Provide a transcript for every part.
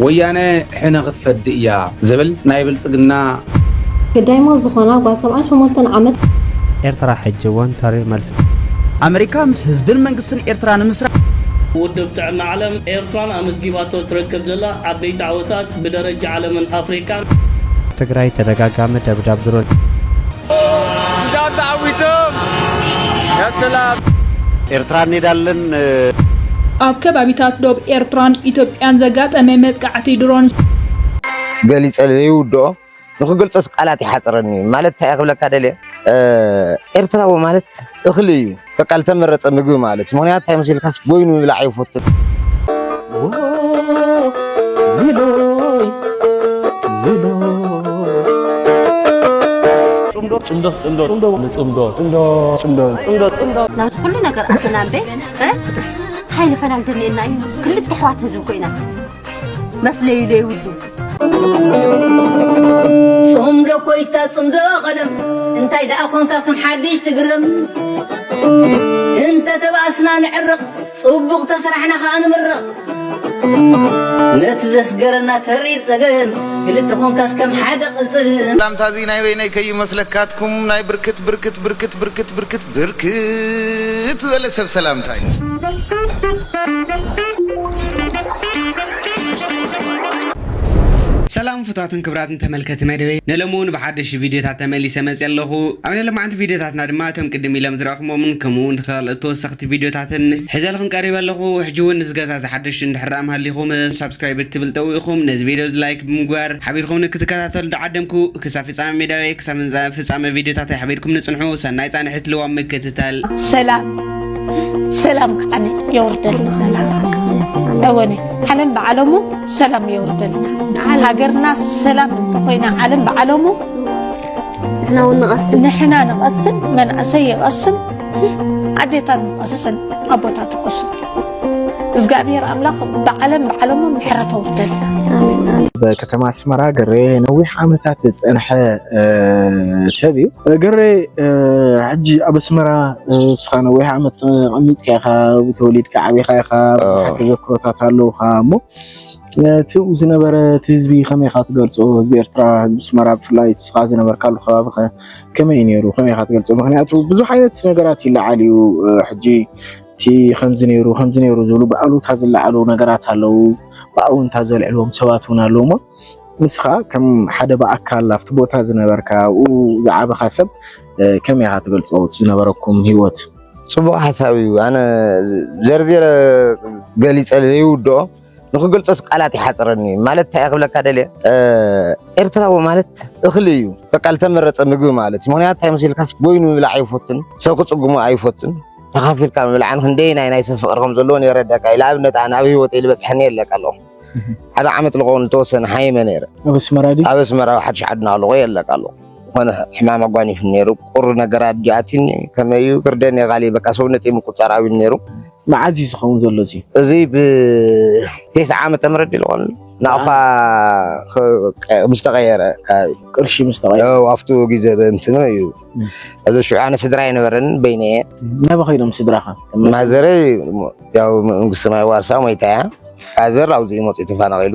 ወያነ ሕነ ክትፈዲ እያ ዝብል ናይ ብልፅግና። ግዳይማ ዝኾና ጓል ሰብዓን ሸሞንተን ዓመት። ኤርትራ ሕጂ ውን ተሪር መልሲ። ኣመሪካ ምስ ህዝብን መንግስትን ኤርትራ ንምስራሕ። ውድብ ጥዕና ዓለም፣ ኤርትራን ኣመዝጊባቶ እትረክብ ዘላ ዓበይቲ ዓወታት ብደረጃ ዓለምን ኣፍሪቃን። ኣብ ትግራይ ተደጋጋሚ ደብዳብ ድሮን። እንዳ ተዓዊቶም ያሰላም ኤርትራን ኔዳለን ኣብ ከባቢታት ዶብ ኤርትራን ኢትዮጵያን ዘጋጠመ መጥቃዕቲ ድሮን ገሊፀ ዘይውድኦ ንክገልፆስ ቃላት ይሓፅረኒ ማለት እንታይ ክብለካ ደልየ ኤርትራዊ ማለት እኽሊ እዩ። በቃ ዝተመረፀ ምግቢ ማለት እዩ። ምክንያቱ እንታይ መሲልካስ ቦይኑ ምብላዕ ይፈትል ናብዚ ኩሉ ነገር ኣተናምበ እንታይ ንፈላል ደልየና እዩ ክልተ ኣሕዋት ህዝቢ ኮይና መፍለዩ ዘይብሉ ጽምዶ ኮይታ ጽምዶ ቀደም እንታይ ደኣ ኮንካ ከም ሓድሽ ትግርም እንተ ተባእስና ንዕርቕ ጽቡቕ ተስራሕና ከኣ ንምርቕ ነቲ ዘስገረና ተሪር ጸገም ክልተ ኮንካስ ከም ሓደ ቅልጽም ላምታዚ ናይ በይነይ ከይመስለካትኩም ናይ ብርክት ብርክት ብርክት ብርክት ብርክት ብርክት ዝበለ ሰብ ሰላምታ እዩ። ሰላም ፍቱዋትን ክብራትን ተመልከቲ መደበይ ንሎሚ ውን ብሓደሽቲ ቪድዮታት ተመሊሰ መፅየ ኣለኹ ኣብ ናይ ሎማዕንቲ ቪድዮታትና ድማ እቶም ቅድም ኢሎም ዝረእኹሞምን ከምኡ ውን ኻልኦት ተወሰኽቲ ቪድዮታትን ሒዘልኹም ቀሪበ ኣለኹ ሕጂ ውን እዚ ገዛ እዚ ሓደሽቲ እንድሕር ዳኣ ሃሊኹም ሳብስክራይብ እትብል ጠውቕኹም ነዚ ቪድዮ እዚ ላይክ ብምግባር ሓቢርኹምኒ ክትከታተሉ ዳዓደምኩ ክሳብ ፍጻመ ሜዳዊ ክሳብ እንዛ ፍጻመ ቪድዮታት ኣይሕቢርኩምኒ ጽንሑ ሰናይ ጻንሒት ልዋም ምክትታል። ሰላም ሰላም ከዓኒ የውርደልና እወኒ ዓለም ብዓለሙ ሰላም የውርደልና ሃገርና ሰላም እንተኾይና ዓለም ብዓለሙ ንሕና እውን ንቐስን ንሕና ንቐስን መንእሰይ ይቐስን ኣዴታት ንቐስን ኣቦታት ይቐስን እግዚኣብሔር ኣምላኽ ብዓለም ብዓለሙ ምሕረት ኣውርደልና። ከተማ ኣስመራ ገሬ ነዊሕ ዓመታት ዝፀንሐ ሰብ እዩ። ገሬ ሕጂ ኣብ ኣስመራ እስኻ ነዊሕ ዓመት ተቐሚጥካ ኢኻ፣ ተወሊድካ ዓቢኻ ኢኻ፣ ብዙሓት ተዘክሮታት ኣለውኻ እሞ እቲ ዝነበረ እቲ ህዝቢ ከመይ ኢኻ ትገልፆ? ህዝቢ ኤርትራ ህዝቢ ኣስመራ ብፍላይ እስኻ ዝነበርካሉ ከባቢ ከመይ እዩ ነይሩ? ከመይ ኢኻ ትገልፆ? ምክንያቱ ብዙሕ ዓይነት ነገራት ይለዓል እዩ ሕጂ እቲ ከምዚ ነይሩ ከምዚ ነይሩ ዝብሉ ብኣሉታ ዝለዓሉ ነገራት ኣለዉ፣ ብኣውንታ ዘልዕልዎም ሰባት እውን ኣለዉ እሞ ንስኻ ከም ሓደ ብኣካል ኣብቲ ቦታ ዝነበርካ ኣብኡ ዝዓበኻ ሰብ ከመይ ኢኻ ትገልጾ እቲ ዝነበረኩም ህይወት? ጽቡቕ ሓሳብ እዩ። ኣነ ዘርዚረ ገሊጸ ዘይውድኦ ንክገልጾስ ቃላት ይሓጽረኒ ማለት እንታይ ክብለካ ደልየ ኤርትራዊ ማለት እኽሊ እዩ በቃ ዝተመረጸ ምግቢ ማለት እዩ ምክንያቱ እንታይ መሲልካስ ቦይኑ ምብላዕ ኣይፈቱን ሰብ ክጽጉሙ ኣይፈቱን ተኻፊልካ ምብላዕን ክንደይ ናይ ናይ ሰብ ፍቅሪ ከም ዘለዎን የረዳካ እዩ ንኣብነት ኣነ ኣብ ሂወተይ ዝበፅሐኒ የለካ ኣለኹ ሓደ ዓመት ልኸውን ዝተወሰነ ሓይመ ነይረ ኣብ ኣስመራ ሓድሽ ዓዲ ናለኹ የለካ ኣለኹ ዝኾነ ሕማም ኣጓኒፉ ነይሩ ቁሪ ነገራት ዲኣትኒ ከመይ እዩ ብርደን የቃሊ በቃ ሰውነተይ ምቁፅፃር ኣብዩ ነይሩ መዓዝ እዩ ዝኸውን ዘሎ እዚ እዚ ብቴስዓ ዓመተ ምህረት ድዩ ዝኾነ ናቕፋ ምስ ተቐየረ ከባቢ ቅርሺ ምስ ተቐየረ ኣብቱ ግዜ እንትኖ እዩ እዚ ሽዑ ኣነ ስድራ ኣይነበረንን በይነ እየ ናበ ከይዶም ስድራኻ ማዘረይ ያው መንግስቲ ማይ ዋርሳ ሞይታ እያ ፋዘር ኣብዚኡ መፅኡ ተፈናቒሉ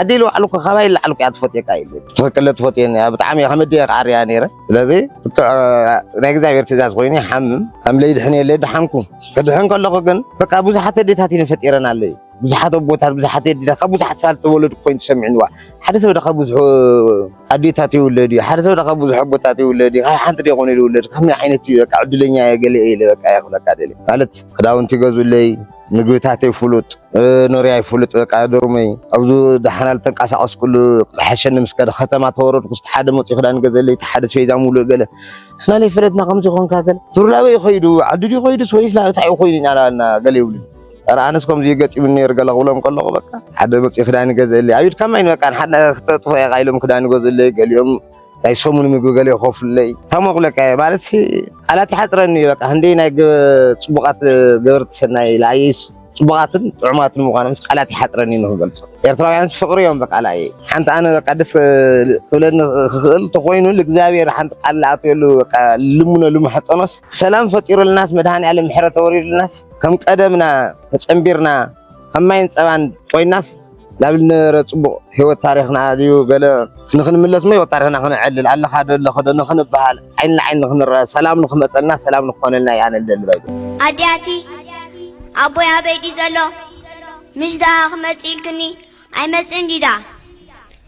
ኣደይ ልባዕሉ እኮ ካባይ ላዕሊ እኮ እያ ትፈትየካ እዩ ትኽክለ ትፈትየኒ እያ ብጣዕሚ ከም ኣደይ ክዓርያ ነይረ ስለዚ ብትዕ ናይ እግዚኣብሔር ትእዛዝ ኮይኑ ይሓምም ከም ለይድሕን የለ ድሓንኩ ክድሕን ከለኹ ግን በቃ ብዙሓት ኣዴታት እየን ፈጢረን ኣለዩ ብዙሓት ኣቦታት ብዙሓት ኣዴታት ካብ ብዙሓት ሰባት ተወለዱ ኮይኑ ተሰሚዕንዋ ሓደ ሰብ ዶ ካብ ብዙሑ ኣዴታት ይውለድ እዩ ሓደ ሰብ ዶ ካብ ብዙሕ ኣቦታት ይውለድ እዩ ካብ ሓንቲ ዶ ይኾነ ይውለድ ከመይ ዓይነት እዩ በቃ ዕድለኛ እየ ገለ እየ ኢለ በቃ እየ ክብለካ ደልየ ማለት ክዳውንቲ ይገዝኡለይ ምግብታተይ ፍሉጥ ኖርያይ ፍሉጥ በቃ ዶርመይ ኣብዚ ደሓና ልተንቀሳቐስ ኩሉ ዝሓሸኒ ምስ ከደ ከተማ ተወረድኩ ስቲ ሓደ መፅኡ ክዳን ገዘለይ እቲ ሓደ ስፌዛ ሙሉእ ገለ ንሕና ለይፈለጥና ከምዚ ኮንካ ገለ ቱርላበ እዩ ከይዱ ዓዱ ድዩ ከይዱስ ወይስ ላብታይ እዩ ኮይኑ ኢና ናበልና ገለ ይብሉ ኧረ ኣነስ ከምዚ ገጢሙኒ ነይሩ ገለ ክብሎም ከለኹ በቃ ሓደ መፅኡ ክዳን ገዘለይ ኣብ ኢድካ ማይ በቃ ንሓደ ክተጥፎ ኢኻ ኢሎም ክዳን ገዘለይ ገሊኦም ናይ ሰሙን ምግቢ ገለ ይኸፍሉለይ ታሞቕለቀ ማለት ቃላት ይሓፅረኒ እዩ በቃ ክንደይ ናይ ፅቡቓት ገበርቲ ሰናይ ለኣየይስ ፅቡቓትን ጥዑማትን ምኳኖም ቃላት ይሓፅረኒ እዩ ንክገልፆ ኤርትራውያንስ ፍቕሪ እዮም በቃ ለኣየይ ሓንቲ ኣነ በቃ ደስ ክብለኒ ክኽእል ተኮይኑ ልእግዚኣብሔር ሓንቲ ቃል ለኣትየሉ በቃ ልምነሉ ማሕፀኖስ ሰላም ፈጢሩልናስ መድሃኒ ዓለም ምሕረት ወሪዱልናስ ከም ቀደምና ተፀንቢርና ከም ማይን ፀባን ኮይናስ ናብ ዝነበረ ጽቡቕ ህይወት ታሪኽና ድዩ ገለ ንኽንምለስ እሞ ህይወት ታሪኽና ክነዕልል ኣለኻ ዶ ኣለኹ ዶ ንኽንበሃል ዓይኒ ንዓይኒ ንኽንረኣ ሰላም ንኽመጸልና ሰላም ንክኾነልና እየ ኣነ ዝደሊ ባይ ኣዲያቲ ኣቦይ ኣበይ ድዩ ዘሎ ምሽ ደኣ ክመጽእ ኢልክኒ ኣይመጽእን ድዩ ደኣ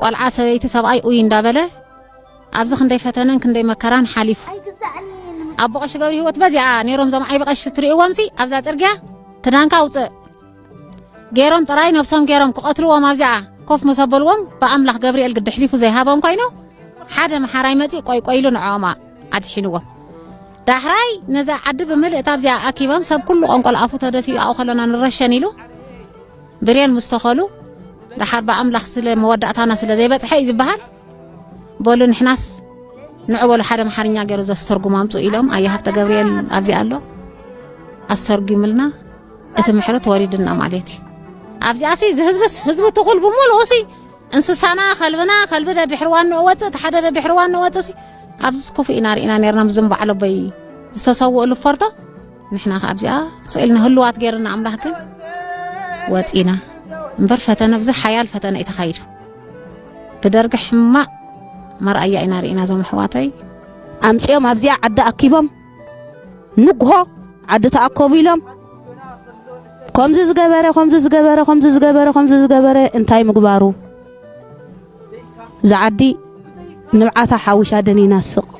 ቆልዓ ሰበይቲ ሰብኣይ ኡይ እንዳበለ ኣብዚ ክንደይ ፈተነን ክንደይ መከራን ሓሊፉ ኣቦ ቀሺ ገብሪ ህይወት በዚኣ ነይሮም ዞም ዓይቢ ቀሺ ትርእይዎምሲ ኣብዛ ጥርግያ ክዳንካ ውፅእ ገይሮም ጥራይ ነብሶም ገይሮም ክቐትልዎም ኣብዚኣ ኮፍ ምስ ኣበልዎም ብኣምላኽ ገብርኤል ግዲ ሕሊፉ ዘይሃቦም ኮይኑ ሓደ መሓራይ መፂእ ቆይቆይሉ ንዕኦማ ኣድሒንዎም ዳሕራይ ነዛ ዓዲ ብምልእታ ኣብዚኣ ኣኪቦም ሰብ ኩሉ ቆንቆል ኣፉ ተደፊኡ ኣብኡ ከለና ንረሸን ኢሉ ብሬን ምስ ተኸሉ ደሓር ብኣምላኽ ስለ መወዳእታና ስለ ዘይበጽሐ እዩ ዝበሃል በሉ ንሕናስ ንዑ በሉ ሓደ ኣምሓርኛ ገይሩ ዘስተርጉም ኣምፁ ኢሎም ኣየ ሃብተ ገብርኤል ኣብዚ ኣሎ ኣስተርጉምልና እቲ ምሕረት ወሪድና ማለት እዩ ኣብዚኣ ሲ ዝህዝብስ ህዝቢ ትኹል ብምሉኡ ሲ እንስሳና ከልብና ከልቢ ደድሕሪ ዋንኡ ወፅእ እቲ ሓደ ደድሕሪ ዋንኡ ወፅእ ሲ ኣብዚስ ክፉእ ኢና ርኢና ነርና ምዝም በዓሎበይ ዝተሰውእሉ ፈርቶ ንሕና ከ ኣብዚኣ ስኢልና ህልዋት ገይርና ኣምላኽ ግን ወፂና እምበር ፈተነ ብዚ ሓያል ፈተነ እዩ ተኻይዱ ብደርጊ ሕማቕ መርኣያ ኢና ርኢና ዞም ኣሕዋተይ ኣምፅኦም ኣብዚኣ ዓዲ ኣኪቦም ንግሆ ዓዲ ተኣከቡ ኢሎም ከምዚ ዝገበረ ከምዚ ዝገበረ ከምዚ ዝገበረ ከምዚ ዝገበረ እንታይ ምግባሩ እዛ ዓዲ ንብዓታ ሓዊሻ ደኒና ስቕ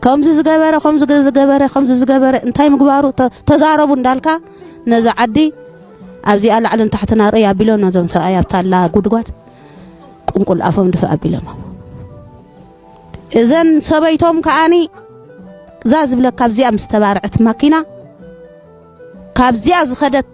ከምዚ ዝገበረ ከምዚ ዝገበረ ከምዚ ዝገበረ እንታይ ምግባሩ ተዛረቡ እንዳልካ ነዚ ዓዲ ኣብዚኣ ላዕልን ታሕትን ኣርእይ ኣቢሎ ነዞም ሰብኣይ ኣብታላ ጉድጓድ ቁንቁል ኣፎም ድፋእ ኣቢሎሞ እዘን ሰበይቶም ከዓኒ እዛ ዝብለካ ኣብዚኣ ምስ ተባርዐት ማኪና ካብዚኣ ዝኸደት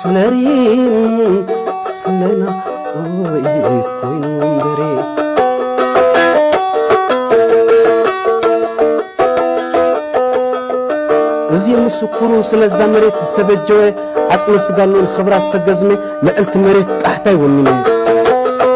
ሰለሪም ሰለና ኦይ ኮይኑ እምበሪ እዚ ምስኩሩ ስለዛ መሬት ዝተበጀወ ዓፅሚ ስጋሉን ኽብራ ዝተገዝመ ልዕልቲ መሬት ቃሕታይ ወኒነ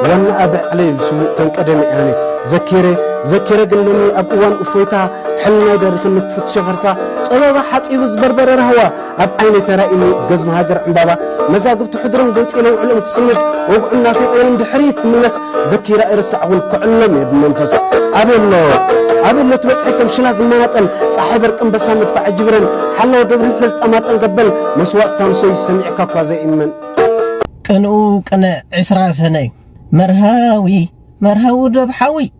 ዋና ኣብ ዕለይ ስውእ ተንቀደመ ያነ ዘኪረ ዘኪረ ግን ሎሚ ኣብ እዋን እፎይታ ሕልናይ ደርኽኒ ክፍትሸ ኸርሳ ፀበባ ሓፂቡ ዝበርበረ ራህዋ ኣብ ዓይኒ ተራይ እምኒ ገዝሚ ሃገር ዕምባባ መዛግብቲ ሕድሮም ገንጺለ ውዕሎም ክስንድ ወግዑን ናፊቐዮም ድሕሪት ክምለስ ዘኪረ ኣይርሳዕኹን ክዕሎም እየ ብመንፈስ ኣበሎ ኣበሎ ትበጽሐ ከም ሽላ ዝመናጠል ጻሓይ በርቂ ኣንበሳ መድፋዕ ጅብረን ሓላው ደብሪ ሕለ ዝጠማጠን ገበል መስዋእት ፋኑሰይ ሰሚዕካ እኳ ዘይእመን ቅንኡ ቅነ ዕስራ ሰነ መርሃዊ መርሃዊ ዶብ ሓዊ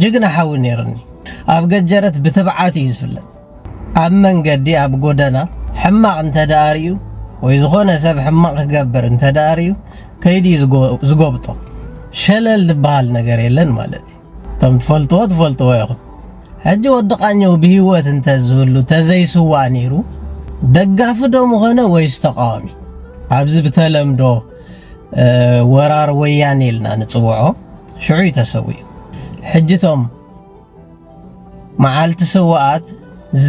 ጅግና ሓዊ ነይሩኒ ኣብ ገጀረት ብትብዓት እዩ ዝፍለጥ ኣብ መንገዲ ኣብ ጎደና ሕማቕ እንተ ርዩ ወይ ዝኾነ ሰብ ሕማቕ ክገብር እንተ ርዩ ከይዲ ዝጎብጦ ሸለል ዝበሃል ነገር የለን ማለት እዩ እቶም ትፈልጥዎ ትፈልጥዎ ኢኹም ሕጂ ወዲ ቃኘው ብሂወት እንተ ዝህሉ ተዘይስዋእ ነይሩ ደጋፊ ዶ ምኾነ ወይስ ተቃዋሚ ኣብዚ ብተለምዶ ወራር ወያኔ ኢልና ንፅውዖ ሽዑ እዩ ተሰዊኡ ሕጂ እቶም መዓልቲ ስውኣት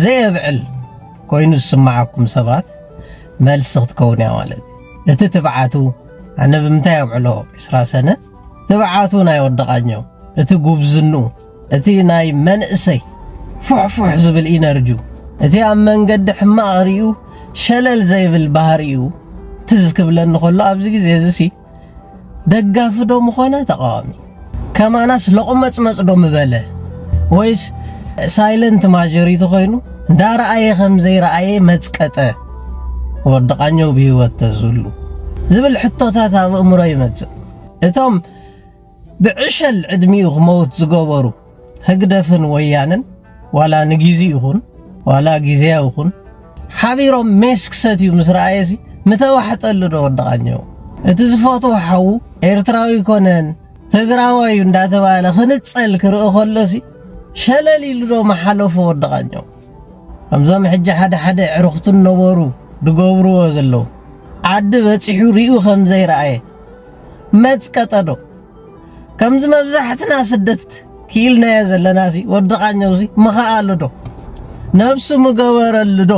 ዘየብዕል ኮይኑ ዝስምዓኩም ሰባት መልሲ ክትከውን እያ ማለት እዩ እቲ ትብዓቱ ኣነ ብምንታይ ኣብዕሎ ዕስራ ሰነ ትብዓቱ ናይ ወደቓኘው እቲ ጉብዝኑ እቲ ናይ መንእሰይ ፉሕፉሕ ዝብል ኢነርጁ እቲ ኣብ መንገዲ ሕማቕ ሪኡ ሸለል ዘይብል ባህሪኡ ትዝ ክብለኒ ከሎ ኣብዚ ግዜ እዚ ደጋፊ ዶ ምኾነ ተቃዋሚ ከማናስ ሎቕመጽመጽ ዶ ምበለ ወይስ ሳይለንት ማጆሪቲ ኮይኑ እንዳረኣየ ከም ዘይረኣየ መጽቀጠ ወዲ ቃኘው ብህይወት ተዝህሉ ዝብል ሕቶታት ኣብ እእምሮ ይመጽእ እቶም ብዕሸል ዕድሚኡ ክመውት ዝገበሩ ህግደፍን ወያነን ዋላ ንጊዚ ይኹን ዋላ ጊዜያዊ ይኹን ሓቢሮም ሜስ ክሰትዩ ምስ ረኣየሲ ምተዋሕጠሉ ዶ ወድቓኘው እቲ ዝፈትዎ ሓዉ ኤርትራዊ ኮነን ትግራዋዩ እንዳተባለ ክንጸል ክርኢ ከሎሲ ሸለል ኢሉ ዶ ምሓለፎ ወድቓኘው ከምዞም ሕጂ ሓደ ሓደ ኣዕሩኽቱ ነበሩ ድገብርዎ ዘለዉ ዓዲ በጺሑ ሪኡ ከምዘይረኣየ መጽቀጠዶ ከምዚ መብዛሕትና ስደት ክኢልናዮ ዘለና ሲ ወዲ ቃኘው ሲ ምኸኣሉ ዶ ነብሱ ምገበረሉ ዶ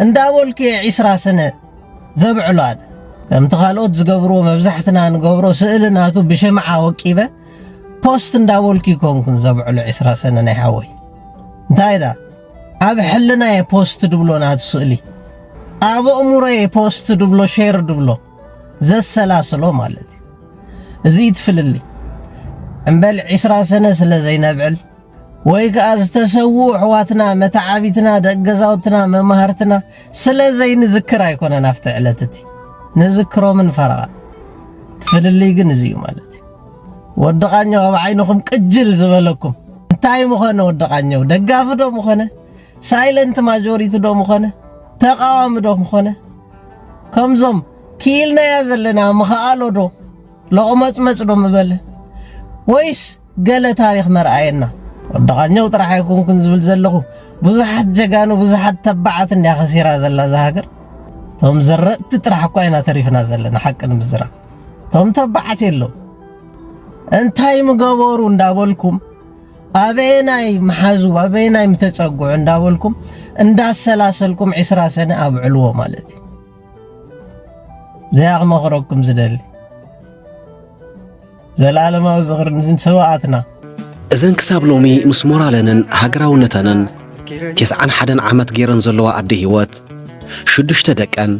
እንዳበልኩ እየ ዒስራ ስነ ዘብዕሎ ኣነ ከምቲ ካልኦት ዝገብርዎ መብዛሕትና ንገብሮ ስእሊ ናቱ ብሽምዓ ወቂበ ፖስት እንዳበልኩ ይኮንኩን ዘብዕሎ ዒስራ ስነ ናይ ሓወይ እንታይ ዳ ኣብ ሕልና እየ ፖስት ድብሎ ናቱ ስእሊ ኣብ ኣእምሮ እየ ፖስት ድብሎ ሼር ድብሎ ዘሰላስሎ ማለት እዩ እዚ ይትፍልልይ እምበል ዒስራ ሰነ ስለ ዘይነብዕል ወይ ከዓ ዝተሰውኡ ኣሕዋትና መተዓቢትና ደቂ ገዛውትና መማህርትና ስለ ዘይንዝክር ኣይኮነን ኣብቲ ዕለት እቲ ንዝክሮምን ፈረቓ ትፍልልይ ግን እዚ እዩ ማለት ወደቓኛው ኣብ ዓይንኹም ቅጅል ዝበለኩም እንታይ ምኾነ ወደቓኛው ደጋፊ ዶ ምኾነ ሳይለንት ማጆሪቲ ዶ ምኾነ ተቃዋሚ ዶ ምኾነ ከምዞም ክኢልናያ ዘለና ምኸኣሎዶ ሎቕመጽመጽዶ ምበለ ወይስ ገለ ታሪኽ መርኣየና ወዲ ቃኘው ጥራሕ ኣይኮንኩን ዝብል ዘለኹ ብዙሓት ጀጋኑ ብዙሓት ተባዓት እንድያ ከሲራ ዘላ እዛ ሃገር እቶም ዘረጥቲ ጥራሕ እኳ ኢና ተሪፍና ዘለና ሓቂ ንምዝራብ እቶም ተባዓት የለው እንታይ ምገበሩ እንዳበልኩም ኣበየናይ ምሓዙ ኣበየናይ ምተጸግዑ እንዳበልኩም እንዳሰላሰልኩም ዕስራ ሰነ ኣብዕልዎ ማለት እዩ ዘያ ክመኽረኩም ዝደሊ ዘላለማዊ ዝኽሪ ንሰዋኣትና እዘን ክሳብ ሎሚ ምስ ሞራለንን ሃገራውነተንን ቴስዓን ሓደን ዓመት ገይረን ዘለዋ ኣደ ህይወት ሽዱሽተ ደቀን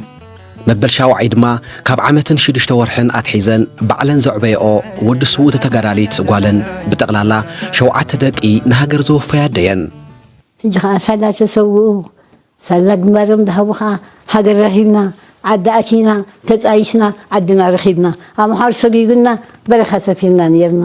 መበል ሻውዓይ ድማ ካብ ዓመትን ሽዱሽተ ወርሕን ኣትሒዘን ባዕለን ዘዕበየኦ ወዲ ስውእቲ ተጋዳሊት ጓለን ብጠቕላላ ሸውዓተ ደቂ ንሃገር ዘወፈያ ኣደየን። ሕጂ ከኣ ሳላ ተሰውኡ ሳላ ግንባሮም ዝሃቡ ከኣ ሃገር ረኺብና ዓዲ ኣቲና ተጣይሽና ዓድና ረኺብና ኣምሓሩ ሰጊጉና በረኻ ሰፊርና ኔርና።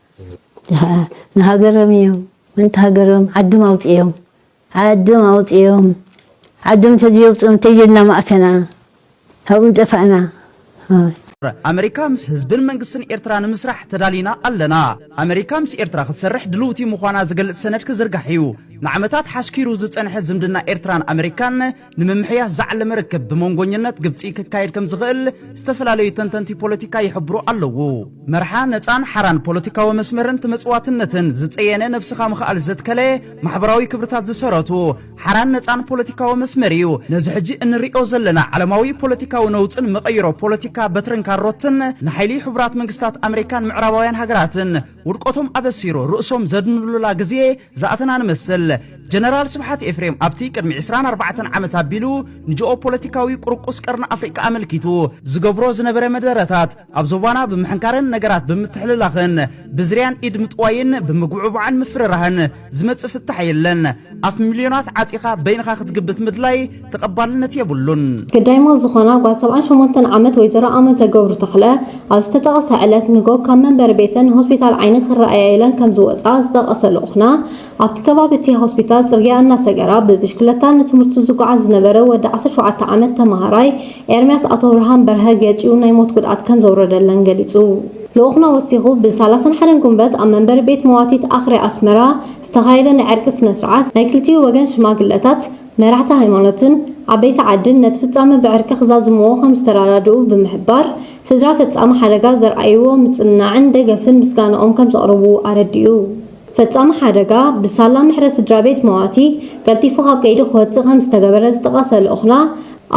ንሃገሮም እዮም ምእንቲ ሃገሮም ዓዶም ኣውጺኦም ዓዶም ኣውጺኦም ዓዶም እንተዘየውጽኦም እንታይ ኢልና ምኣተና ኣብኡ ምጠፋእና ኦይ። ኣመሪካ ምስ ህዝብን መንግስትን ኤርትራ ንምስራሕ ተዳሊና ኣለና። ኣመሪካ ምስ ኤርትራ ክትሰርሕ ድልውቲ ምዃና ዝገልጽ ሰነድ ክዝርጋሕ'ዩ። ንዓመታት ሓስኪሩ ዝጸንሐ ዝምድና ኤርትራን ኣመሪካን፣ ንምምሕያሽ ዝዓለመ ርክብ ብመንጎኝነት ግብፂ ክካየድ ከም ዝኽእል ዝተፈላለዩ ተንተንቲ ፖለቲካ ይሕብሩ ኣለዉ። መርሓ ነፃን ሓራን ፖለቲካዊ መስመርን ተመፅዋትነትን ዝፀየነ ነብስኻ ምኽኣል ዘትከለ ማሕበራዊ ክብርታት ዝሰረቱ ሓራን ነፃን ፖለቲካዊ መስመር እዩ። ነዚ ሕጂ እንርእዮ ዘለና ዓለማዊ ፖለቲካዊ ነውፅን መቐይሮ ፖለቲካ በትርን ካሮትን ንሓይሊ ሕቡራት መንግስታት ኣመሪካን ምዕራባውያን ሃገራትን ውድቀቶም ኣበሲሩ ርእሶም ዘድንሉላ ግዜ ዝኣተና ንመስል። ጀነራል ስብሓት ኤፍሬም ኣብቲ ቅድሚ ዕስራን ኣርባዕተን ዓመት ኣቢሉ ንጂኦፖለቲካዊ ቁርቁስ ቀርኒ ኣፍሪቃ ኣመልኪቱ ዝገብሮ ዝነበረ መደረታት ኣብ ዞባና ብምሕንካርን ነገራት ብምትሕልላኽን ብዝርያን ኢድ ምጥዋይን ብምጉብዕባዕን ምፍርራህን ዝመጽእ ፍታሕ የለን ኣፍ ሚልዮናት ዓጺኻ በይንኻ ክትግብት ምድላይ ተቐባልነት የብሉን። ግዳይማ ዝኾና ጓል ሰብዓን ሸሞንተን ዓመት ወይዘሮ ኣመተ ገብሩ ተኽለ፣ ኣብ ዝተጠቕሰ ዕለት ንጎ ካብ መንበሪ ቤተን ንሆስፒታል ዓይኒ ክረኣያ ኢለን ከምዝወፅኣ ዝጠቐሰ ልኡኽና፣ ኣብቲ ከባቢ እቲ ሆስፒታል ፅርግያ እናሰገራ ብብሽክለታ ንትምህርቱ ዝጓዓዝ ዝነበረ ወዲ ዓሰርተ ሸውዓተ ዓመት ተምሃራይ ኤርሚያስ ኣቶብርሃን በርሀ ገጪው ናይ ሞት ጉድኣት ከምዘውረደለን ገሊፁ። ልኡኽና ወሲኹ፣ ብሳላሳን ሓደን ጉንበት ኣብ መንበሪ ቤት መዋቲት ኣኽርያ ኣስመራ ዝተኻየደ ናይ ዕርቂ ስነ-ስርዓት፣ ናይ ክልቲኡ ወገን ሽማግለታት፣ መራሕቲ ሃይማኖትን ዓበይቲ ዓድን ነቲ ፍጻመ ብዕርቂ ክዛዝምዎ ከም ዝተረዳድኡ ብምሕባር፣ ስድራ ፈጻሚ ሓደጋ ዘርኣይዎ ምጽንናዕን ደገፍን ምስጋናኦም ከም ዘቕርቡ ኣረዲኡ። ፈጻሚ ሓደጋ፣ ብሳላ ምሕረት ስድራቤት መዋቲ ቀልጢፉ ካብ ቀይዲ ክወጽእ ከም ዝተገበረ ዝጠቐሰ ልኡኽና፣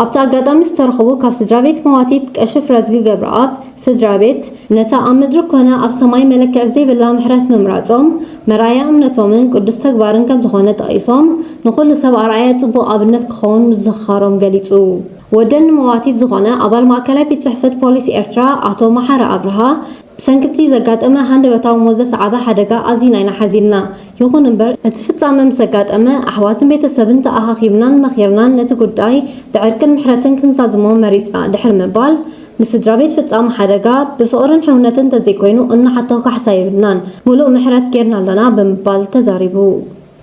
ኣብቲ ኣጋጣሚ ዝተረኽቡ ካብ ስድራቤት መዋቲት ቀሺ ፍረዝጊ ገብረኣብ ስድራቤት፣ ነታ ኣብ ምድሪ ኰነ ኣብ ሰማይ መለክዒ ዘይብላ ምሕረት ምምራጾም፣ መርኣያ እምነቶምን ቅዱስ ተግባርን ከም ዝዀነ ጠቒሶም፣ ንዅሉ ሰብ ኣርኣያ ጽቡቕ ኣብነት ክኸውን ምዝኽኻሮም ገሊጹ። ወደን ንመዋቲት ዝዀነ ኣባል ማእከላይ ቤት ጽሕፈት ፖሊስ ኤርትራ ኣቶ መሓሪ ኣብርሃ፣ ብሰንኪ'ቲ ዘጋጠመ ሃንደበታዊ ሞት ዘስዓበ ሓደጋ ኣዚና ኢና ሓዚንና። ይኹን እምበር፣ እቲ ፍጻመ ምስ ኣጋጠመ፣ ኣሕዋትን ቤተሰብን ተኣኻኺብናን መኺርናን ነቲ ጉዳይ ብዕርቅን ምሕረትን ክንዛዝሞ መሪጽና ድሕሪ ምባል፣ ምስ ስድራቤት ፈጻሚ ሓደጋ፣ ብፍቕርን ሕውነትን እንተዘይኮይኑ እንሓቶ ካሕሳ የብልናን፣ ምሉእ ምሕረት ጌርና ኣሎና ብምባል ተዛሪቡ።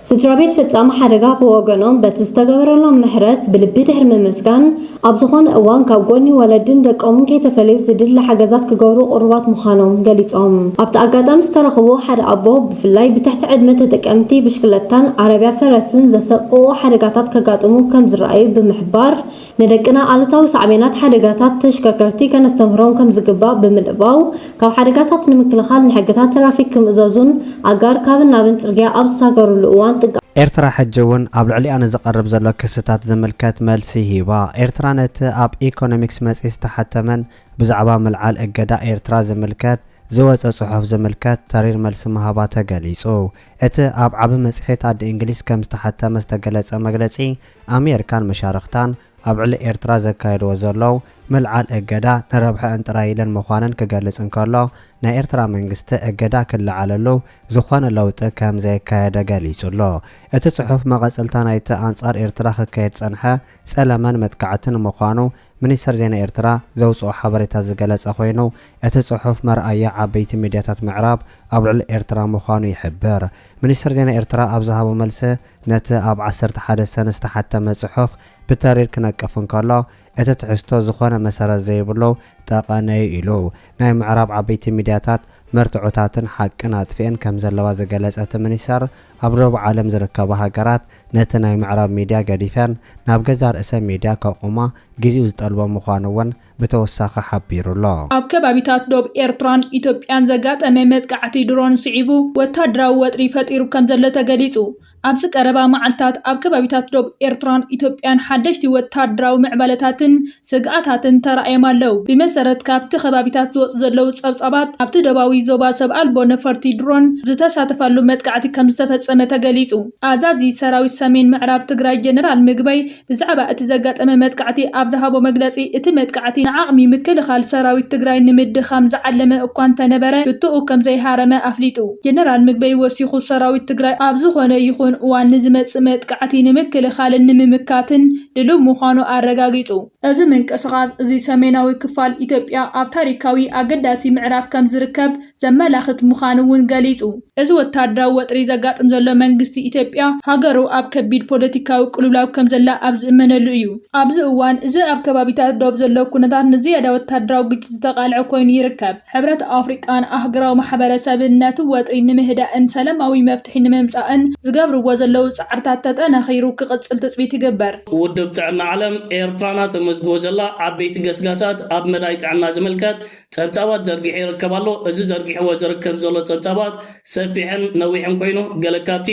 ስድራቤት ፈጻሚ ሓደጋ ብወገኖም በቲ ዝተገበረሎም ምሕረት ብልቢ ድሕሪ ምምስጋን፣ ኣብ ዝኾነ እዋን ካብ ጎኒ ወለድን ደቆምን ከይተፈለዩ ዝድለ ሓገዛት ክገብሩ ቅሩባት ምዃኖም ገሊጾም። ኣብቲ ኣጋጣሚ ዝተረኽቡ ሓደ ኣቦ፣ ብፍላይ ብትሕቲ ዕድመ ተጠቀምቲ ብሽክለታን ዓረብያ ፈረስን ዘሰቅቑ ሓደጋታት ከጋጥሙ ከምዝረኣዩ ብምሕባር፣ ንደቅና ኣሉታዊ ሳዕቤናት ሓደጋታት ተሽከርከርቲ ከነስተምህሮም ከምዝግባእ ብምልባው፣ ካብ ሓደጋታት ንምክልኻል ንሕግታት ትራፊክ ክምእዘዙን ኣጋር ካብን ናብን ጽርግያ ኣብ ዝሳገሩሉ እዋን ጥንቃቐ። ኤርትራ ሕጂ እውን ኣብ ልዕሊኣ ንዝቐርብ ዘሎ ክስታት ዝምልከት መልሲ ሂባ። ኤርትራ ነቲ ኣብ ኢኮኖሚክስ መጽሔት ዝተሓተመን ብዛዕባ ምልዓል እገዳ ኤርትራ ዝምልከት ዝወጸ ጽሑፍ ዝምልከት ተሪር መልሲ ምሃባ ተገሊጹ። እቲ ኣብ ዓቢ መጽሔት ኣደ እንግሊዝ ከም ዝተሓተመ ዝተገለጸ መግለጺ ኣሜርካን መሻርኽታን ኣብ ዕሊ ኤርትራ ዘካየድዎ ዘሎው ምልዓል እገዳ ንረብሐእን ጥራይ ኢለን ምዃነን ክገልጽ እንከሎ፣ ናይ ኤርትራ መንግስቲ እገዳ ክለዓለሉ ዝኾነ ለውጢ ከም ዘየካየደ ገሊጹ ኣሎ። እቲ ጽሑፍ መቐጸልታ ናይቲ ኣንጻር ኤርትራ ክካየድ ዝጸንሐ ጸለመን መጥቃዕትን ምዃኑ ሚኒስተር ዜና ኤርትራ ዘውጽኦ ሓበሬታ ዝገለጸ ኮይኑ፣ እቲ ጽሑፍ መርኣያ ዓበይቲ ሚድያታት ምዕራብ ኣብ ልዕሊ ኤርትራ ምዃኑ ይሕብር። ሚኒስተር ዜና ኤርትራ ኣብ ዝሃቦ መልሲ፣ ነቲ ኣብ ዓሰርተ ሓደ ሰነ ዝተሓተመ ጽሑፍ ብተሪር ክነቅፍ እንከሎ፣ እቲ ትሕዝቶ ዝኾነ መሰረት ዘይብሉ ጠቐነ'ዩ ኢሉ። ናይ ምዕራብ ዓበይቲ ሚድያታት መርትዖታትን ሓቅን ኣጥፊኤን ከምዘለዋ ዝገለጸ እቲ ሚኒስተር፣ ኣብ ዶብ ዓለም ዝርከባ ሃገራት ነቲ ናይ ምዕራብ ሚድያ ገዲፈን ናብ ገዛእ ርእሰን ሚድያ ከቑማ ግዚኡ ዝጠልቦ ምዃኑ እውን ብተወሳኺ ሓቢሩ ኣሎ። ኣብ ከባቢታት ዶብ ኤርትራን ኢትዮጵያን ዘጋጠመ መጥቃዕቲ ድሮን ስዒቡ ወታደራዊ ወጥሪ ፈጢሩ ከምዘሎ ተገሊጹ። ኣብዚ ቀረባ መዓልታት ኣብ ከባቢታት ዶብ ኤርትራን ኢትዮጵያን ሓደሽቲ ወታደራዊ ምዕባለታትን ስግኣታትን ተራእዮም ኣለው። ብመሰረት ካብቲ ከባቢታት ዝወጹ ዘለው ጸብጻባት፣ ኣብቲ ደቡባዊ ዞባ ሰብ ኣልቦ ነፈርቲ፣ ድሮን፣ ዝተሳተፋሉ መጥቃዕቲ ከምዝተፈጸመ ተገሊጹ። ኣዛዚ ሰራዊት ሰሜን ምዕራብ ትግራይ ጀነራል ምግበይ ብዛዕባ እቲ ዘጋጠመ መጥቃዕቲ ኣብ ዝሃቦ መግለጺ፣ እቲ መጥቃዕቲ ንዓቕሚ ምክልኻል ሰራዊት ትግራይ ንምድኻም ዝዓለመ እኳ እንተነበረ ሽቶኡ ከምዘይሃረመ ኣፍሊጡ። ጀነራል ምግበይ ወሲኹ ሰራዊት ትግራይ ኣብ ዝኾነ ይኹን እዋን ንዝመጽእ መጥቃዕቲ ንምክልኻልን ንምምካትን፣ ድሉው ምዃኑ ኣረጋጊጹ። እዚ ምንቅስቓስ እዚ ሰሜናዊ ክፋል ኢትዮጵያ ኣብ ታሪካዊ ኣገዳሲ ምዕራፍ ከም ዝርከብ ዘመላኽት ምዃኑ እውን ገሊጹ። እዚ ወተሃደራዊ ወጥሪ ዘጋጥም ዘሎ መንግስቲ ኢትዮጵያ ሃገሩ ኣብ ከቢድ ፖለቲካዊ ቅልውላው ከም ዘላ ኣብ ዝእመነሉ እዩ። ኣብዚ እዋን እዚ ኣብ ከባቢታት ዶብ ዘሎ ኩነታት ንዝያዳ ወተሃደራዊ ግጭት ዝተቓልዐ ኮይኑ ይርከብ። ሕብረት ኣፍሪቃን ኣህግራዊ ማሕበረሰብን ነቲ ወጥሪ ንምህዳእን ሰለማዊ መፍትሒ ንምምጻእን ዝገብርዎ ዘለዉ ጻዕርታት ተጠናኺሩ ክቕጽል ትጽቢት ይግበር። ውድብ ጥዕና ዓለም፣ ኤርትራና ተመዝግቦ ዘላ ዓበይቲ ገስጋሳት ኣብ መዳይ ጥዕና ዝምልከት ጸብጻባት ዘርጊሑ ይርከብ ኣሎ። እዚ ዘርጊሕዎ ዝርከብ ዘሎ ጸብጻባት ሰፊሕን ነዊሕን ኮይኑ፣ ገለ ካብቲ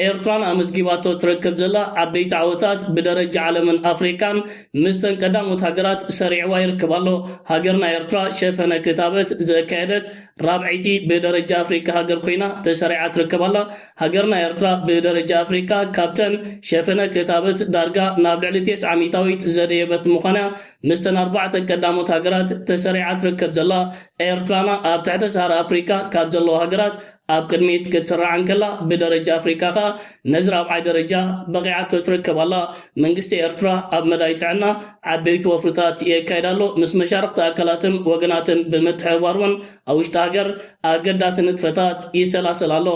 ኤርትራና ኣመዝጊባቶ ትረክብ ዘላ ዓበይቲ ዓወታት ብደረጃ ዓለምን ኣፍሪቃን ምስተን ቀዳሞት ሃገራት ሰሪዕዋ ይርከብ ኣሎ። ሃገርና ኤርትራ ሸፈነ ክታበት ዘካየደት ራብዐይቲ ብደረጃ ኣፍሪቃ ሃገር ኮይና ተሰሪዓ ትርከብ ኣላ። ሃገርና ኤርትራ ብደረጃ ኣፍሪቃ ካብተን ሸፈነ ክታበት ዳርጋ ናብ ልዕሊ ቴስዓ ሚታዊት ዘደየበት ምዃና'ያ ምስተን ኣርባዕተ ቀዳሞት ሃገራት ተሰሪዓ ትርከብ ዘላ። ኤርትራና ኣብ ትሕተ ሰሃራ ኣፍሪቃ ካብ ዘለዋ ሃገራት ኣብ ቅድሚት ክትስራዕ እንከላ ብደረጃ ኣፍሪቃ ከኣ ነዚ ራብዓይ ደረጃ በቒዓቶ ትርከብ ኣላ። መንግስቲ ኤርትራ ኣብ መዳይ ጥዕና ዓበይቲ ወፍርታት የካይድ ኣሎ፣ ምስ መሻርኽቲ ኣካላትን ወገናትን ብምትሕብባር'ውን ኣብ ውሽጢ ሃገር ኣገዳሲ ንጥፈታት ይሰላሰል ኣሎ።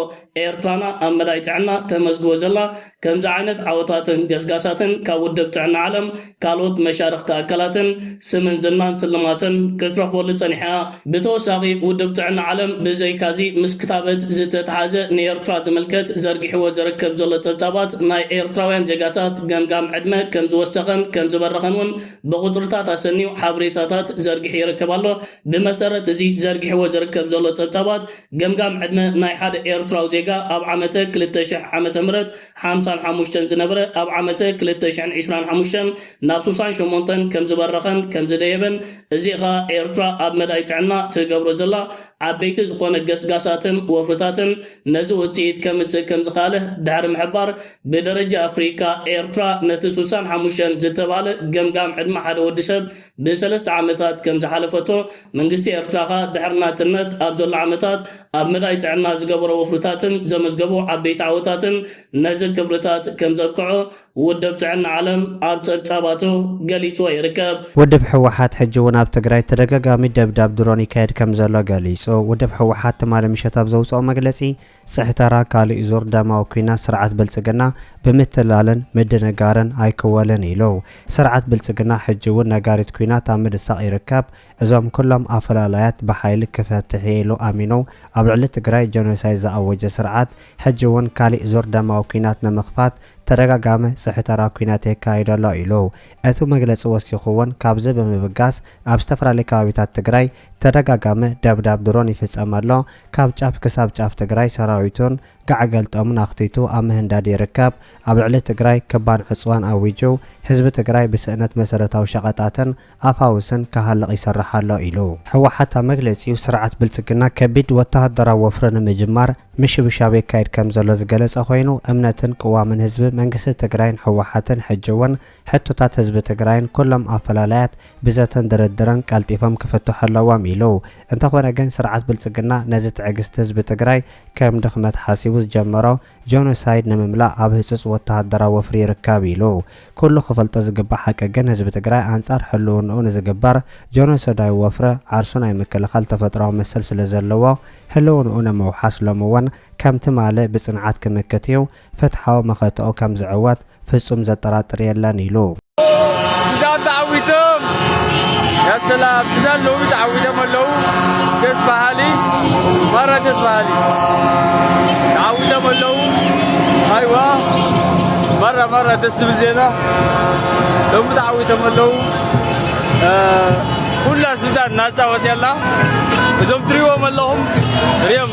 ኤርትራና ኣብ መዳይ ጥዕና ተመዝግቦ ዘላ ከምዚ ዓይነት ዓወታትን ገስጋሳትን ካብ ውድብ ጥዕና ዓለም ካልኦት መሻርኽቲ ኣካላትን ስምን ዝናን ስልማትን ክትረኽበሉ ጸኒሓ'ያ። ብተወሳኺ ውድብ ጥዕና ዓለም ብዘይካ'ዚ ምስ ክታበት ዝተትሓዘ ንኤርትራ ዝምልከት ዘርጊሕዎ ዝርከብ ዘሎ ጸብጻባት ናይ ኤርትራውያን ዜጋታት ገምጋም ዕድመ ከምዝወሰኸን ከምዝበረኸን ውን ብቑጽርታት ኣሰንዩ ሓብሬታታት ዘርጊሑ ይርከብ ኣሎ። ብመሰረት እዚ ዘርጊሕዎ ዝርከብ ዘሎ ጸብጻባት፣ ገምጋም ዕድመ ናይ ሓደ ኤርትራዊ ዜጋ ኣብ ዓመተ ክልተ ሽሕ ዓመተ ምህረት ሓምሳን ሓሙሽተን ዝነበረ ኣብ ዓመተ ክልተ ሽሕን ዕስራን ሓሙሽተን ናብ ሱሳን ሸሞንተን ከምዝበረኸን ከምዝደየበን እዚ ኸኣ ኤርትራ ኣብ መዳይ ጥዕና ትገብሮ ዘላ ዓበይቲ ዝኾነ ገስጋሳትን ወፍርታትን ነዚ ውጽኢት ከምጽእ ከምዝኻኣለ ድሕሪ ምሕባር ብደረጃ ኣፍሪካ ኤርትራ ነቲ ሱሳን ሓሙሽተን ዝተባህለ ገምጋም ዕድመ ሓደ ወዲ ሰብ ብሰለስተ ዓመታት ከም ዝሓለፈቶ፣ መንግስቲ ኤርትራ ከኣ ድሕሪ ናጽነት ኣብ ዘሎ ዓመታት ኣብ መዳይ ጥዕና ዝገበሮ ወፍርታትን ዘመዝገቦ ዓበይቲ ዓወታትን ነዚ ክብርታት ከም ዘብቅዖ ውድብ ጥዕና ዓለም ኣብ ጸብጻባቱ ገሊጽዎ ይርከብ። ውድብ ህወሓት ሕጂ እውን ኣብ ትግራይ ተደጋጋሚ ደብዳብ ድሮን ይካየድ ከም ዘሎ ገሊጹ። ውድብ ህወሓት ትማሊ ምሸት ኣብ ዘውጽኦ መግለጺ፣ ጽሕተራ ካልእይ ዙር ደማዊ ኩናት ስርዓት ብልጽግና ብምትላልን ምድንጋርን ኣይክወልን ኢሉ። ስርዓት ብልጽግና ሕጂ እውን ነጋሪት ኩናት ኣብ ምድሳቕ ይርከብ። እዞም ኩሎም ኣፈላላያት ብሓይሊ ክፈትሕ እየ ኢሉ ኣሚኑ ኣብ ልዕሊ ትግራይ ጀኖሳይድ ዝኣወጀ ስርዓት ሕጂ እውን ካልእይ ዙር ደማዊ ኩናት ንምኽፋት ተደጋጋሚ ጽሕተራ ኩናት የካይድ ኣሎ ኢሉ እቱ መግለጺ ወሲኹ እውን ካብዚ ብምብጋስ ኣብ ዝተፈላለዩ ከባቢታት ትግራይ ተደጋጋሚ ደብዳብ ድሮን ይፍጸም ኣሎ ካብ ጫፍ ክሳብ ጫፍ ትግራይ ሰራዊቱን ጋዕ ገልጠሙን ኣኽቲቱ ኣብ ምህንዳድ ይርከብ። ኣብ ልዕሊ ትግራይ ከባድ ዕፅዋን ኣዊጁ ህዝቢ ትግራይ ብስእነት መሰረታዊ ሸቐጣትን ኣፋውስን ክሃልቕ ይሰርሕ ኣሎ ኢሉ። ህወሓት ኣብ መግለፂኡ ስርዓት ብልፅግና ከቢድ ወታሃደራዊ ወፍሪ ንምጅማር ምሽብሻብ የካይድ ከምዘሎ ዝገለፀ ኮይኑ እምነትን ቅዋምን ህዝቢ መንግስቲ ትግራይን ህወሓትን ሕጂ እውን ሕቶታት ህዝቢ ትግራይን ኩሎም ኣፈላላያት ብዘተን ድርድርን ቀልጢፎም ክፍትሑ ኣለዎም ኢሉ። እንተኾነ ግን ስርዓት ብልፅግና ነዚ ትዕግስቲ ህዝቢ ትግራይ ከም ድኽመት ሓሲቡ ዝጀመሮ ጆኖሳይድ ንምምላእ ኣብ ህፁፅ ወተሃደራዊ ወፍሪ ይርከብ ኢሉ። ኩሉ ክፈልጦ ዝግባእ ሓቂ ግን ህዝቢ ትግራይ ኣንፃር ሕልውንኡ ንዝግበር ጆኖሶዳዊ ወፍሪ ዓርሱ ናይ ምክልኻል ተፈጥሮኣዊ መሰል ስለዘለዎ ህልውንኡ ንምውሓስ ሎሚ እውን ከም ትማሊ ብፅንዓት ክምክት እዩ ፍትሓዊ መኸተኡ ከም ዝዕወት ፍጹም ዘጠራጥር የለን ኢሉ። ሱዳን ተዓዊቶም ያ ሰላም ሱዳን ሎሚ ተዓዊቶም ኣለው ደስ በሃሊ ማራ ደስ በሃሊ ተዓዊቶም ኣለው ኣይዋ ማራ ማራ ደስ ዝብል ዜና ሎሚ ተዓዊቶም ኣለው ኩላ ሱዳን ናፃ ወፂኣላ እዞም ትሪዎም ኣለኹም ሪኦም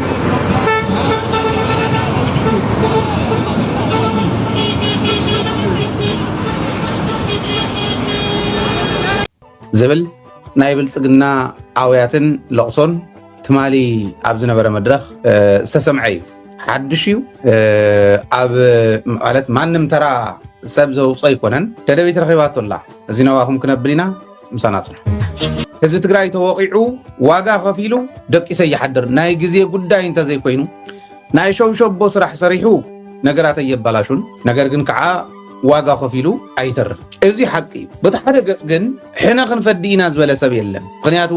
ዝብል ናይ ብልፅግና ኣውያትን ለቕሶን ትማሊ ኣብ ዝነበረ መድረኽ ዝተሰምዐ እዩ። ሓዱሽ እዩ ኣብ ማለት ማንም ተራ ሰብ ዘውፅኦ ኣይኮነን። ደደቢት ረኺባቶ ኣላ እዚ ነባኹም ክነብል ኢና ምሳና ፅንሑ። ህዝቢ ትግራይ ተወቂዑ ዋጋ ከፊሉ ደቂሰ ይሓድር ናይ ግዜ ጉዳይ እንተዘይኮይኑ ናይ ሸውሸቦ ስራሕ ሰሪሑ ነገራት ኣየባላሹን ነገር ግን ከዓ ዋጋ ከፊሉ ኣይተርፍ እዚ ሓቂ እዩ በቲ ሓደ ገፅ ግን ሕነ ክንፈዲ ኢና ዝበለ ሰብ የለን ምክንያቱ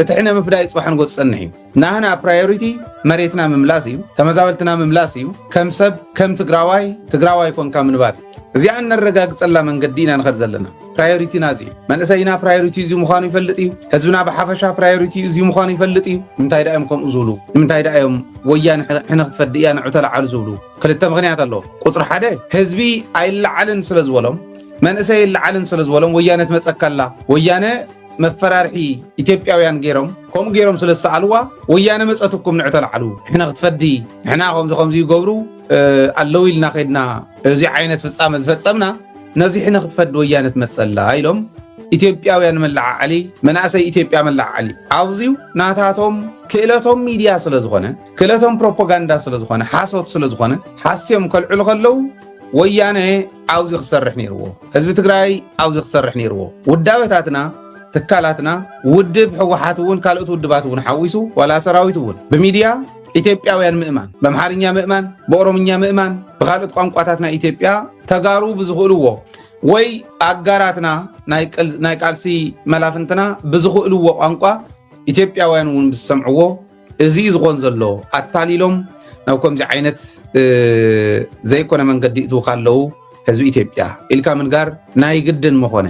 እቲ ሕነ ምፍዳይ ፅባሕ ንጎ ዝፀንሕ እዩ ናህና ፕራዮሪቲ መሬትና ምምላስ እዩ ተመዛበልትና ምምላስ እዩ ከም ሰብ ከም ትግራዋይ ትግራዋይ ኮንካ ምንባር እዩ እዚኣ እነረጋግፀላ መንገዲ ኢና ንኸድ ዘለና ፕራዮሪቲና እዚ እዩ መንእሰይና ፕራዮሪቲ እዚ ምዃኑ ይፈልጥ እዩ ህዝብና ብሓፈሻ ፕራዮሪቲ እዚ ምዃኑ ይፈልጥ እዩ ንምንታይ ዳ እዮም ከምኡ ዝብሉ ንምንታይ ዳ እዮም ወያነ ሕነ ክትፈዲ እያ ንዑ ተለዓሉ ዝብሉ ክልተ ምክንያት ኣለዎ ቁፅሪ ሓደ ህዝቢ ኣይለዓልን ስለ ዝበሎም መንእሰይ ይለዓልን ስለ ዝበሎም ወያነ ትመፀካላ ወያነ መፈራርሒ ኢትዮጵያውያን ገይሮም ከምኡ ገይሮም ስለ ዝሰኣልዋ ወያነ መፀትኩም ንዕ ተላዓሉ ንሕና ክትፈዲ ንሕና ከምዚ ከምዚ ይገብሩ ኣለዉ ኢልና ከድና እዚ ዓይነት ፍፃመ ዝፈፀምና ነዚ ሕነ ክትፈዲ ወያነ ትመፀላ ኢሎም ኢትዮጵያውያን መለዓዓሊ መናእሰይ ኢትዮጵያ መለዓዓሊ ኣብዚዩ ናታቶም ክእለቶም ሚድያ ስለ ዝኾነ ክእለቶም ፕሮፓጋንዳ ስለ ዝኾነ ሓሶት ስለ ዝኾነ ሓስዮም ከልዕሉ ከለዉ ወያነ ኣብዙ ክሰርሕ ነይርዎ ህዝቢ ትግራይ ኣብዙ ክሰርሕ ነይርዎ ውዳበታትና ትካላትና ውድብ ሕወሓት እውን ካልኦት ውድባት እውን ሓዊሱ ዋላ ሰራዊት እውን ብሚድያ ኢትዮጵያውያን ምእማን በምሓርኛ ምእማን ብኦሮምኛ ምእማን ብካልኦት ቋንቋታት ናይ ኢትዮጵያ ተጋሩ ብዝኽእልዎ ወይ ኣጋራትና ናይ ቃልሲ መላፍንትና ብዝኽእልዎ ቋንቋ ኢትዮጵያውያን እውን ብዝሰምዕዎ እዚ እዩ ዝኾን ዘሎ ኣታሊሎም ናብ ከምዚ ዓይነት ዘይኮነ መንገዲ እትውካ ኣለው ህዝቢ ኢትዮጵያ ኢልካ ምንጋር ናይ ግድን ምኾነ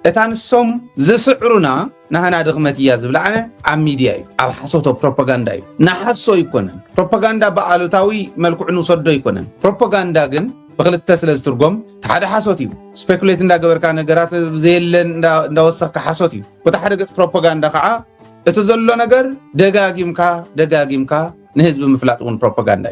እታ ንሶም ዝስዕሩና ናህና ድኽመት እያ ዝብላዕነ ኣብ ሚድያ እዩ ኣብ ሓሶቶ ፕሮፓጋንዳ እዩ ንሓሶ ኣይኮነን ፕሮፓጋንዳ ብኣሉታዊ መልክዑ ንውሰዶ ኣይኮነን ፕሮፓጋንዳ ግን ብክልተ ስለ ዝትርጎም እቲ ሓደ ሓሶት እዩ ስፔኩሌት እንዳገበርካ ነገራት ዘየለ እንዳወሰኽካ ሓሶት እዩ በቲ ሓደ ገፅ ፕሮፓጋንዳ ከዓ እቲ ዘሎ ነገር ደጋጊምካ ደጋጊምካ ንህዝቢ ምፍላጥ እውን ፕሮፓጋንዳ እዩ።